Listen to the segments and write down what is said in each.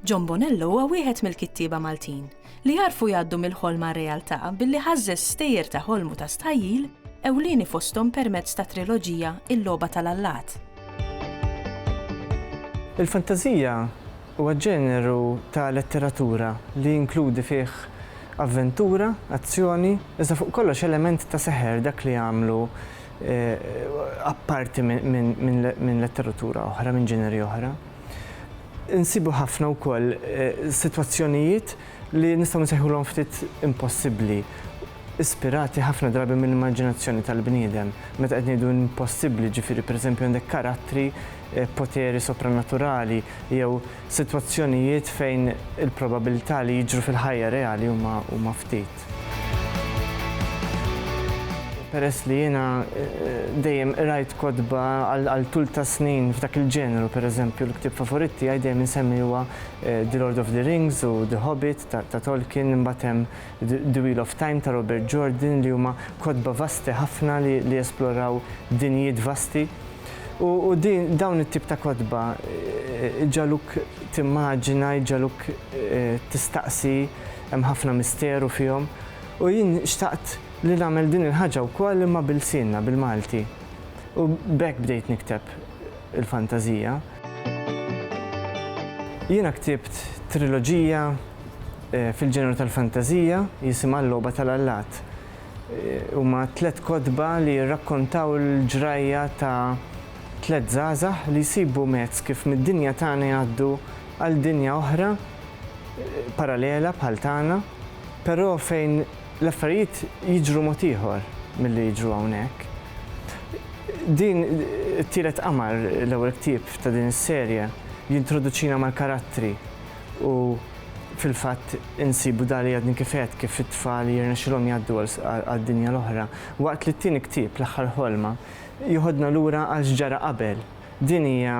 John Bonello huwa wieħed mill-kittieba Maltin li għarfu jgħaddu mill-ħolm għar-realtà billi ħażżeż stejjer ta' ħolm u ta' stħajjil, ewlieni fosthom permezz tat-triloġija Il-Logħba tal-Allat. Il-fantażija huwa ġeneru ta' letteratura li jinkludi fih avventura, azzjoni, iżda fuq kollox element ta' seħer, dak li jagħmlu apparti minn letteratura oħra, minn ġeneri oħra. Insibu ħafna wkoll eh, sitwazzjonijiet li nistgħu nsejħulhom ftit impossibbli ispirati ħafna drabi minn immaġinazzjoni tal-bniedem. Meta qed ngħidu impossibbli, ġifieri pereżempju għandek karattri, eh, poteri sopranaturali jew sitwazzjonijiet fejn il-probabilità li jiġru fil-ħajja reali huma ftit. Peress li jiena dejjem qrajt kotba għal tul ta' snin f'dak il-ġeneru, pereżempju l-ktieb favorit tiegħi dejjem insemmi huwa The Lord of the Rings u The Hobbit ta' Tolkien, imbagħad hemm The Wheel of Time ta' Robert Jordan li huma kotba vasti ħafna li jesploraw dinjiet vasti. U dawn it-tip ta' kotba jġagħluk timmaġina, jġagħluk tistaqsi, hemm ħafna misteru fihom u jien xtaqt li nagħmel din il-ħaġa wkoll imma b'ilsienna, bil-Malti. U b'hekk bdejt nikteb il-fantażija. Jiena ktibt triloġija fil-ġeneru tal-fantażija jisimha L-Logħba tal-Allat. Huma tliet kotba li jirrakkontaw il-ġrajja ta' tliet żgħażagħ li jsibu mezz kif mid-dinja tagħna jgħaddu għal dinja oħra, parallela bħal tagħna, però fejn l-affarijiet jiġru mod ieħor milli jiġru hawnhekk. Din It-Tielet Qamar, l-ewwel ktieb ta' din is-serje, jintroduċina mal-karattri u fil-fatt insibu Dali għadni kif għedt kif it-tfal jirnexxilhom jgħaddu għad-dinja l-oħra, waqt li t-tieni ktieb, L-Aħħar Ħolma, jiħodna lura għal x'ġara qabel. Din hija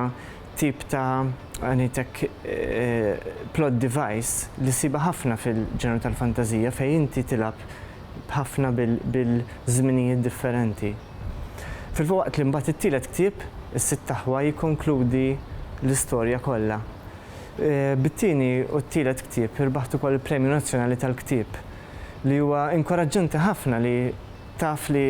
tip ta' ngħidlek plot device li ssibha ħafna fil-ġenru tal-fantażija fejn inti tilgħab ħafna bil-żminijiet differenti. Filwaqt li mbagħad it-tielet ktieb, Is-Sitt Aħwa jikkonkludi l-istorja kollha. Bit-tieni u t-tielet ktieb irbaħt ukoll il-Premju Nazzjonali tal-Ktieb li huwa inkoraġġanti ħafna li Taf li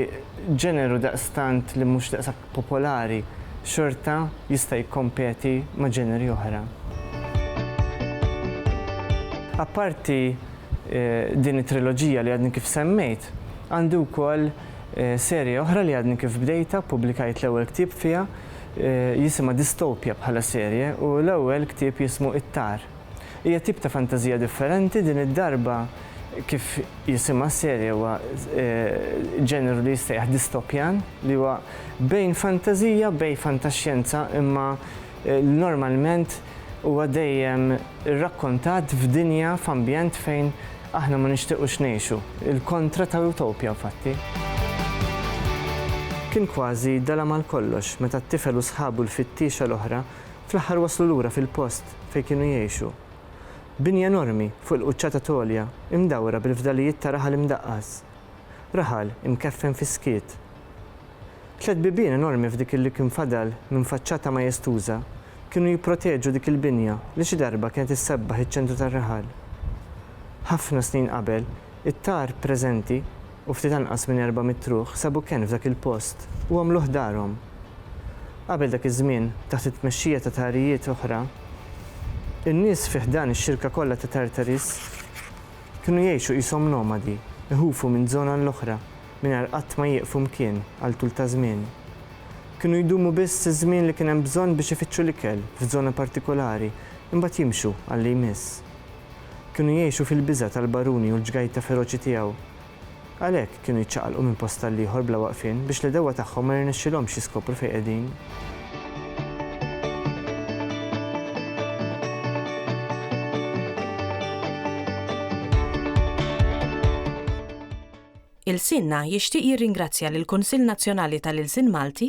ġeneru daqstant li mhux daqshekk popolari xorta jista' jikkompeti ma' ġeneri oħra. Apparti din it-triloġija li għadni kif semmejt, għandi wkoll serje oħra li għadni kif bdejtha, ppubblikajt l-ewwel ktieb fiha, jisimha Dystopia bħala serje u l-ewwel ktieb jismu It-Tar. Hija tip ta' fantażija differenti, din id-darba kif jisimha s-serje huwa ġeneru li jissejjaħ distopjan li huwa bejn fantażija bejn fantaxjenza imma normalment huwa dejjem irrakkontat f'dinja f'ambjent fejn aħna ma nixtiequx ngħixu, il-kontra ta' utopja infatti. Kien kważi dalam għal kollox meta t-tifel u sħabu l-fittiexa l-oħra fl-aħħar waslu lura fil-post. fejn kienu jgħixu. Binja enormi fuq il-quċċata t'għolja imdawra bil-fdalijiet ta' raħal imdaqqas. Raħal imkeffen fis-skiet. Tliet bibien enormi f'dik li kien fadal minn faċċata majestuża kienu jipproteġu dik il-binja li xi darba kienet issebbaħ iċ-ċentru tar-raħal. Ħafna snin qabel, it-tar preżenti, u ftit anqas minn erba' mitt ruħ sabu kenn f'dak il-post u għamluh darhom. Qabel dak iż-żmien, taħt it-tmexxija ta' tagħrijiet oħra, in-nies fi ħdan ix-xirka kollha ta' Tartaris kienu jgħixu qishom nomadi, iħufu minn żona għal oħra mingħajr qatt ma jieqfu mkien għal tul ta' żmien. Kienu jdumu biss iż-żmien li kien hemm bżonn biex ifittxu l-ikel f'żona partikulari, imbagħad jimxu għal li jmiss. Kienu jgħixu fil-biża' tal-baruni u l-ġgajta feroċi tiegħu. Għalhekk, kienu jiċċaqalqu minn post għall-ieħor bla waqfien biex l-għedewwa tagħhom ma jirnexxilhomx jiskopru fejn qegħdin. Ilsienna jixtieq jirringrazzja lill-Kunsill Nazzjonali tal-Ilsien Malti,